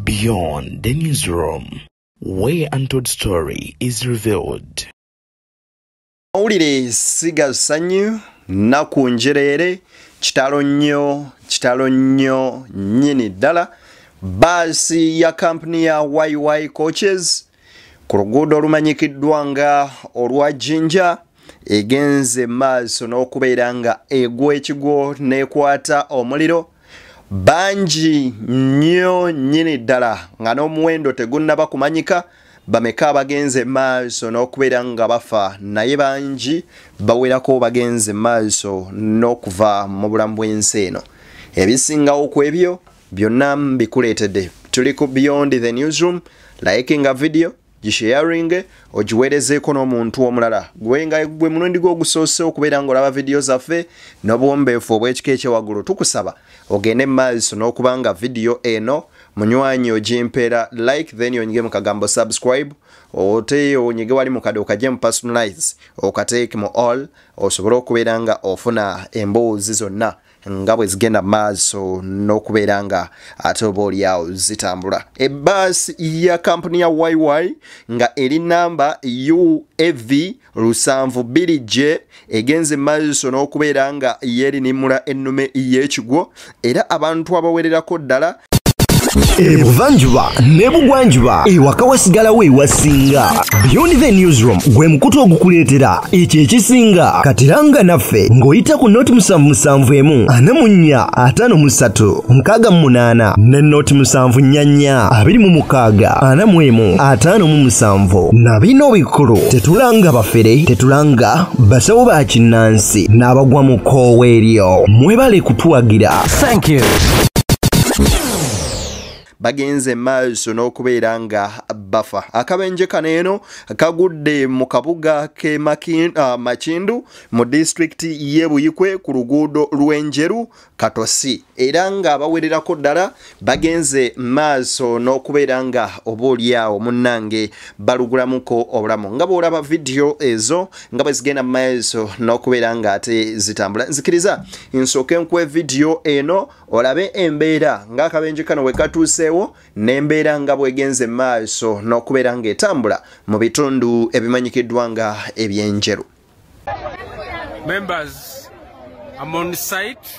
Beyond the newsroom, where untold story is revealed. Mawulire siga sanyu naku njereere kitalo nnyo kitalo nnyo nnyini ddala baasi ya kampuni ya yy coaches ku luguudo olumanyikiddwa nga olwa jinja egenze maaso n'okubeera nga egwa ekigwo n'ekwata omuliro bangi nnyo nnyini ddala nga n'omuwendo tegunnaba kumanyika bameka abagenze maaso n'okubeera nga bafa naye bangi bawerako bagenze maaso n'okuva mu bulamu bw'ensi eno ebisingawo ku ebyo byonna mbikuleetedde tuli ku beyond the newsroom likinga video gisheyaringe ogiweerezeeko n'omuntu omulala gwe nga gwe mulundi gwe ogusoose okubeera ng'olaba vidiyo zaffe n'obuwombeefu obw'ekika ekyewaggulu tukusaba ogende mu maaso n'okuba nga vidiyo eno munywanyi ogimpeera like then onyige mu kagambo subscribe ote onyige wali mukade okajje mu personalize okateeke mu all osobole okubeera nga ofuna emboozi zonna nga bwe zigenda maaso n'okubeera nga ate oba olyawo zitambula ebbaasi ya kampuni ya yy nga eri namba uav lusanvu biri j egenze maaso n'okubeera nga yeerinimula ennume y'ekigwo era abantu abawererako ddala ebuvanjuba nebugwanjuba ewaka wasigalawo ewasinga beyond the newsroom gwe mukutu ogukuleetera ekyo ekisinga katiranga naffe ng'oyita ku noti musanvu musanvu emu ana mu nnya ataano mu ssatu nkaaga mu munaana ne noti musanvu nnya nnya abiri mu mukaaga ana mu emu ataano mu musanvu na bino bikulu tetulanga bafere tetulanga basawo ba kinnansi n'abagwa mu koowa eryo mwebale kutuwagira Thank you. bagenze maaso n'okubeera nga bafa akabenje kano eno kagudde mu kabuga ke ah, makindu mu disitulikiti ye buyikwe ku luguudo lw'enjeru katosi era ng'abawererako ddala bagenze maaso n'okubeera nga oba olyawo munnange balugulamuko obulamu nga bw'olaba vidiyo ezo nga bwe zigenda mu maeso n'okubeera ng'ate zitambula nzikiriza nsooke nkuwe vidiyo eno olabe embeera ng'akabenje kano we katuuseewo n'embeera nga bwegenze mu maaso n'okubeera ng'etambula mu bitundu ebimanyikiddwa nga ebyenjeru Members, I'm on site.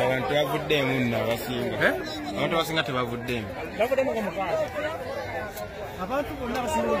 abantu tebavuddeemu nno abasinga eh? abantu abasinga tebavuddeemu abantu bonna basiiaa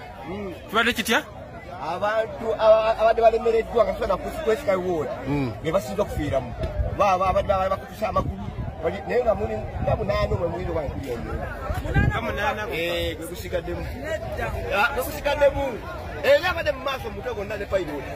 hmm. kibadde kitya abantu abadde balemereddwa nga tusobola kwesika ward hmm. be basinza okufiiramu baaba abadde bakutusa amakulu naye nga muli nga munaana omwe muyinza oba nkuli omunaana gwegusigaddemu gwegusigaddemu era abadde mu maaso mutwe gonna ne fayiro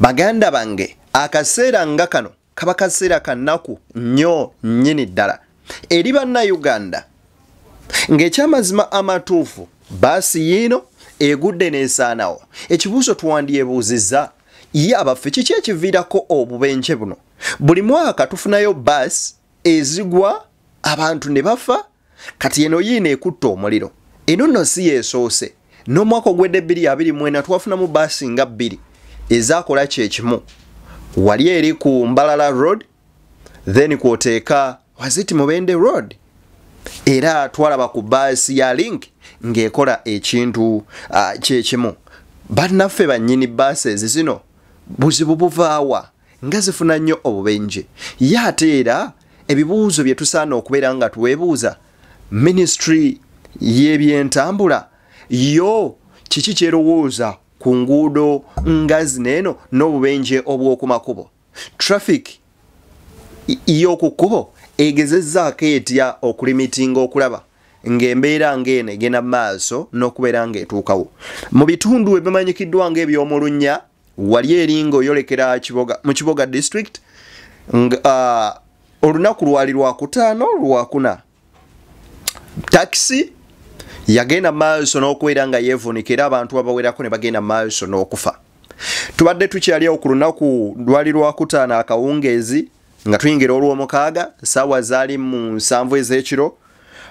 baganda bange akaseera nga kano kaba kaseera kanaku nnyo nnyini ddala eri bannayuganda ng'ekyamazima amatuufu baasi yiino egudde n'esaanawo ekibuuzo twandyebuuzizza ye abaffe kiki ekiviirako obubenje buno buli mwaka tufunayo baasi ezigwa abantu ne bafa kati eno yiino ekutte omuliro eno nno si yesoose n'omwaka ogwedde bbiri abiri mwena twafunamu baasi nga bbiri ezakola kyekimu wali eri ku mbalala road then kwoteeka waziti mubende road era twalaba ku baasi ya link ng'ekola ekintu uh, kyekimu bannaffe bannyini baasi ezizino buzibu buvaawa nga zifuna nnyo obubenje ye ate era ebibuuzo bye tusaana okubeera nga twebuuza minisitule y'ebyentambula yo kiki kyerowooza ku nguudo nga zino eno n'obubenje obw'oku makubo traffic y'oku kkubo egezezzaako etya okulimitinga okulaba ng'embeera ng'eno egenda mu maaso n'okubeera ng'etuukawo mu bitundu ebimanyikiddwa ng'eby'omulunnya wali eringa oyolekera kiboga mu kiboga district uh, olunaku lwali lwakutaano lwakuna takisi yagenda maaso n'okubeera nga yeevunika era abantu abawerako ne bagenda maaso n'okufa tubadde tukyaliawo ku lunaku lwali lwakutaano akawungeezi nga tuyingira olw'omukaaga saawa zaali mu nsanvu ez'ekiro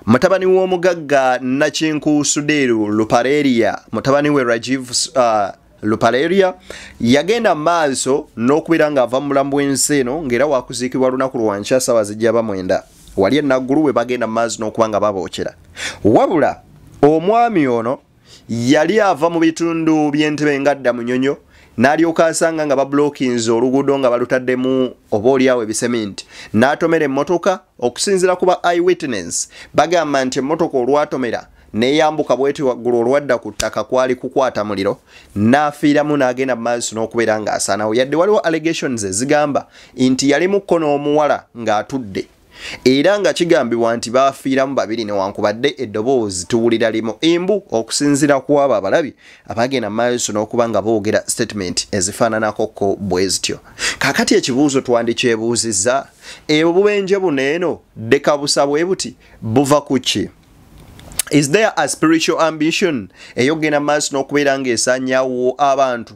mutabani w'omugagga nakinku sudeeru lupareria mutabani we rajiv uh, lupareria yagenda mu maaso n'okubeera ng'ava mu bulamu bw'ensi eno ng'era wakuziikibwa lunaku lwankya saawa zijja bamwenda wali enaggulu we bagenda mu maazi n'okuba nga babookera wabula omwami ono yali ava mu bitundu by'entebe ngadda munyonyo n'alyoka asanga nga babulokinze oluguudo nga balutaddemu oba olyawo ebiseminti n'atomera emmotoka okusinzira ku ba i witness bagamba nti emmotoka olwatomera neyambuka bweti waggulu olwadda ku ttaka kwali kukwata muliro n'afiiramu n'agenda mu maaso n'okubeera ng'asaanawo yadde waliwo allegations ezigamba nti yali mukko n'omuwala ng'atudde era nga kigambibwa nti baafiiramu babiri newankubadde eddoboozi tuwulira limu embu okusinziira ku abo abalabi abagenda mu maaso n'okuba nga boogera sitatimenti ezifaananakoko bwe zityo kaakati ekibuuzo twandikyebuuzizza ebwo bubenje buno eno ddekabusa bwe buti buva ku ki is there a spiritual ambition eyokugenda mu maaso n'okubeera ng'esanyawo abantu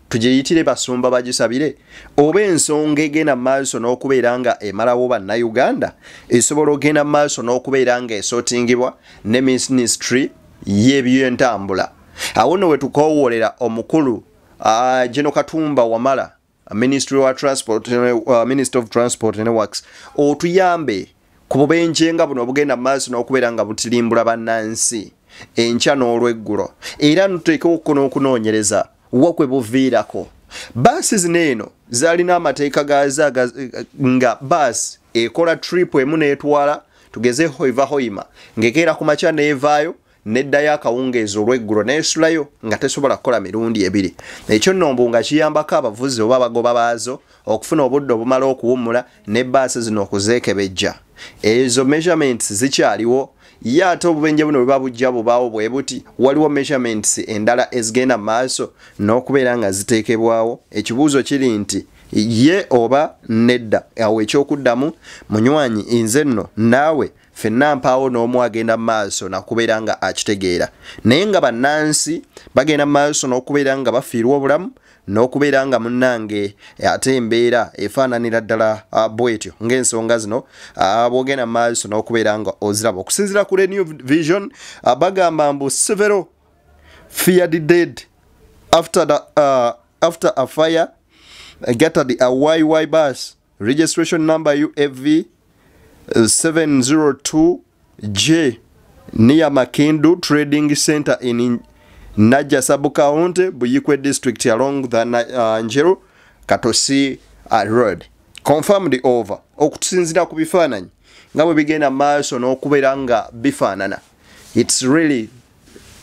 tugyeyitire basumba bagisabire oba ensonga egenda maaso n'okubeera nga emalawo bannayuganda esobola ogenda maaso n'okubeera nga esotingibwa ne minisitry y'ebyentambula awo no we tukowoolera omukulu geno katumba wamala ministry wa transport uh, minister of transport ne works otuyambe ku bubenje nga buno obugenda mu maaso n'okubeera nga butilimbula bannansi enkya n'olweggulo era nuteekewo okuko n'okunoonyereza wa kwe buviirako baasi zino eno zaalina amateeka gaazo nga baasi ekola tripu emu n'etwala tugezeho evahoima ng'ekeera ku makya n'evaayo neddayo akawungeezi olweggulo neesulayo nga tesobola kukola mirundi ebiri ekyo nno mbu nga kiyambako abavuzi oba abagoba baazo okufuna obudde obumala okuwummula ne baasi zino okuzeekebejja ezo measurements zikyaliwo ye ate obubenje buno bwe babujja bubaawo bwe buti waliwo measurements endala ezigenda mu maaso n'okubeera nga ziteekebwawo ekibuuzo kiri nti ye oba nedda awo ekyokuddamu munywanyi nze nno naawe fenna mpaawo n'omu agenda maaso nakubeera nga akitegeera naye nga bannansi bagenda maaso n'okubeera nga bafiirwa obulamu n'okubeera nga munnange ate embeera efaananira ddala ah, bwetyo ng'ensonga zino ah, bwogenda maaso n'okubeera nga oziraba okusinzira ku renew vision ah, bagamba mbu several feared dead after, the, uh, after a fire gattered a yy bus registration number uav 702 j near makindu trading center in naja subcounty buyikwe district along the uh, njeru katosi uh, road confirmed over okutusinzira ku bifaananyi nga bwe bigenda maaso n'okubeera nga bifaanana its really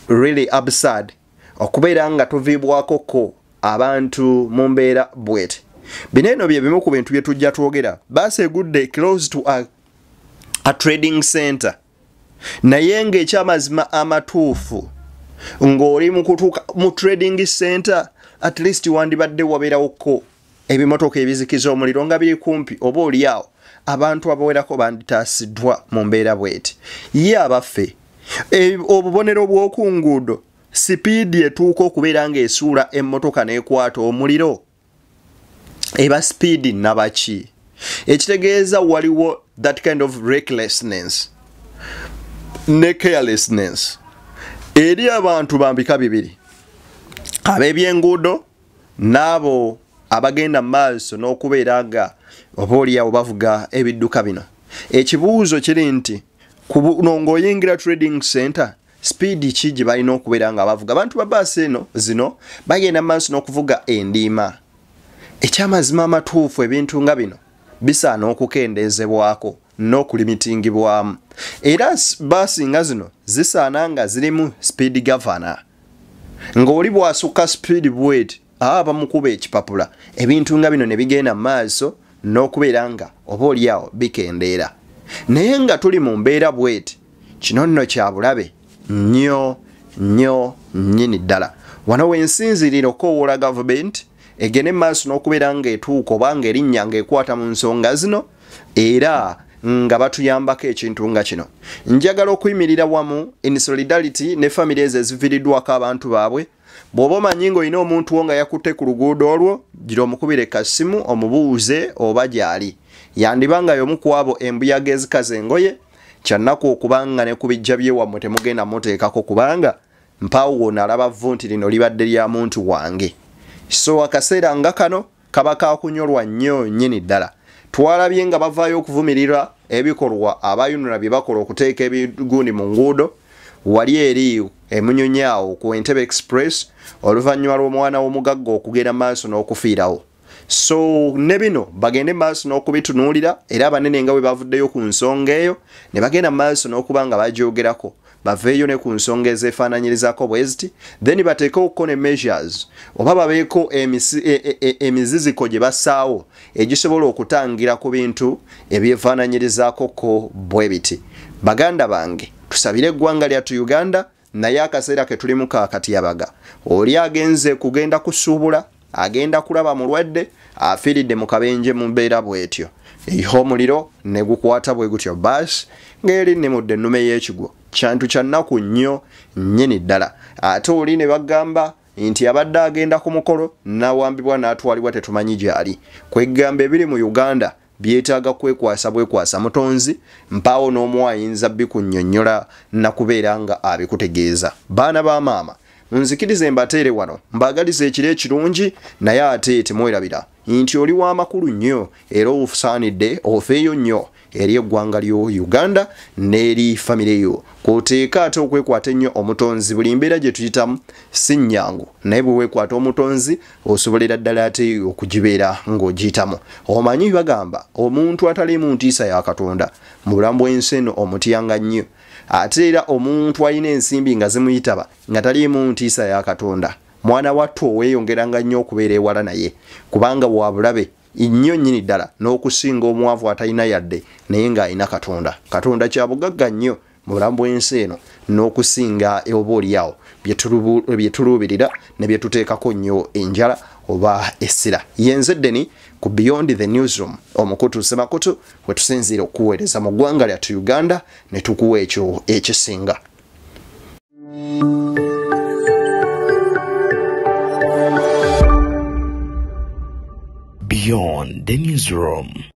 really absurd okubeera nga tuviibwako ko abantu mu mbeera bwet bino eno bye bimu ku bintu bye tujja twogera baasi egudde close to a, a trading center naye ng'ekyamazima amatuufu ng'oli mu kutuuka mu trading center at least wandibadde wabeerawokko ebimotoka ebizikiza omuliro nga biri kumpi oba olyawo abantu abawerako banditaasiddwa mu mbeera bweti ye abaffe e, obubonero bw'oku nguudo sipiidi etuuka okubeera ng'esuula emmotoka n'ekwata omuliro eba sipiidi nabaki ekitegeeza waliwo that kind of recklessness ne carelessness eri abantu bambika bibiri ab'ebyenguudo n'abo abagenda mu maaso n'okubeera nga oba oliawo bavuga ebidduka bino ekibuuzo kiri nti kuno ng'oyingira trading center sipiidi ki gye balina okubeera nga bavuga abantu ba baasi eno zino bagenda mu maaso n'okuvuga endiima ekyamazima amatuufu ebintu nga bino bisaana okukendeezebwako n'okulimitingibwamu era baasi nga zino zisaana nga zirimu sipiidi gavana ng'oli bw'asukka sipiidi bweti aba ah, bamukuba ekipapula ebintu nga bino ne bigenda mu maaso n'okubeera nga oba olyawo bikendeera naye nga tuli mu mbeera bweti kino nno kya bulabe nnyo nnyo nnyini ddala wano wensinzirira okowoola gavumenti egende mu maaso n'okubeera ng'etuuka oba ng'erinnya ng'ekwata mu nsonga zino era nga batuyambako ekintu nga kino njagala okuyimirira wamu in solidarity ne famiry ezo eziviridwako abantu baabwe bw'oba omanyi ng'olina omuntu wo nga yakutte ku luguudo olwo gira omukubire kasimu omubuuze oba gyali yandiba nga y'omu ku abo embuyaga ezikaza engoye kyannaku okuba nga ne ku bijja byewammwe temugenda muteekako kubanga mpaawo wona alaba vvu nti lino libadde lya muntu wange so akaseera nga kano kaba kakunyolwa nnyo nnyini ddala twalabye nga bavaayo okuvumirira ebikolwa abayunula bye bakola okuteeka ebigundi mu nguudo wali eri emunyonyi awo ku entebe express oluvannyuma lw'omwana w'omugagga okugenda maaso n'okufiirawo so ne bino bagende maaso n'okubitunuulira era abanene nga bwe bavuddeyo ku nsonga eyo ne bagenda maaso n'okuba nga bagyogerako baveeyo ne ku nsonga ezeefaananyirizako bwe ziti then bateekewokko ne measures oba babeeko e, e, e, emiziziko gye bassaawo egisobola okutangira ku bintu ebyefaananyirizaako ko bwe biti baganda bange tusabire eggwanga lyattu uganda naye akaseera ke tulimu kakatyabaga oli agenze kugenda kusuubula agenda kulaba mulwadde afiiridde mu kabenje mu mbeera bwetyo eiha omuliro ne gukwata bwe gutyo baasi ng'eri nnimudde ennume y'ekigwo kyantu kya nnaku nnyo nnyini ddala ate oli ne bagamba nti abadde agenda ku mukolo n'awambibwa n'atwalibwa tetumanyi gyali kwegamba ebiri mu uganda byetaaga kwekwasa bwekwasa mutonzi mpaawo n'omu ayinza bikunnyonnyola nakubeera nga abikutegeeza baana ba maama nzikirize mbateere wano mbaagaliza ekiro ekirungi naye ate temwerabira nti oli w'amakulu nnyo era ofusaanidde ofeeyo nnyo eri eggwanga lyo uganda n'eri famire yo kwoteeka ate okwekwata ennyo omutonzi buli mbeera gye tuyitamu si nnyangu naye bwe weekwata omutonzi osobolera ddala ate okugibeera ng'ogiyitamu omanyi bagamba omuntu ataliimu ntiisa ya katonda mu bulamu bw'ensi eno omutyanga nnyo ate era omuntu alina ensimbi nga zimuyitaba nga taliimu ntiisa ya katonda mwana wattu oweeyongeranga nnyo okubeera ewala naye kubanga wabulabe nnyo nnyini ddala n'okusinga omwavu atalina yadde naye ng'alina katonda katonda kyabugagga nnyo mu bulamu bw'ensi eno n'okusinga oba oliawo byetuluubirira ne byetuteekako nnyo enjala oba essira yenze ddeni ku beyond the newsroom omukutu semakutu wetusinziira okuweereza mu ggwanga lyattu uganda ne tukuwa ekyo ekisinga beyond the newsroom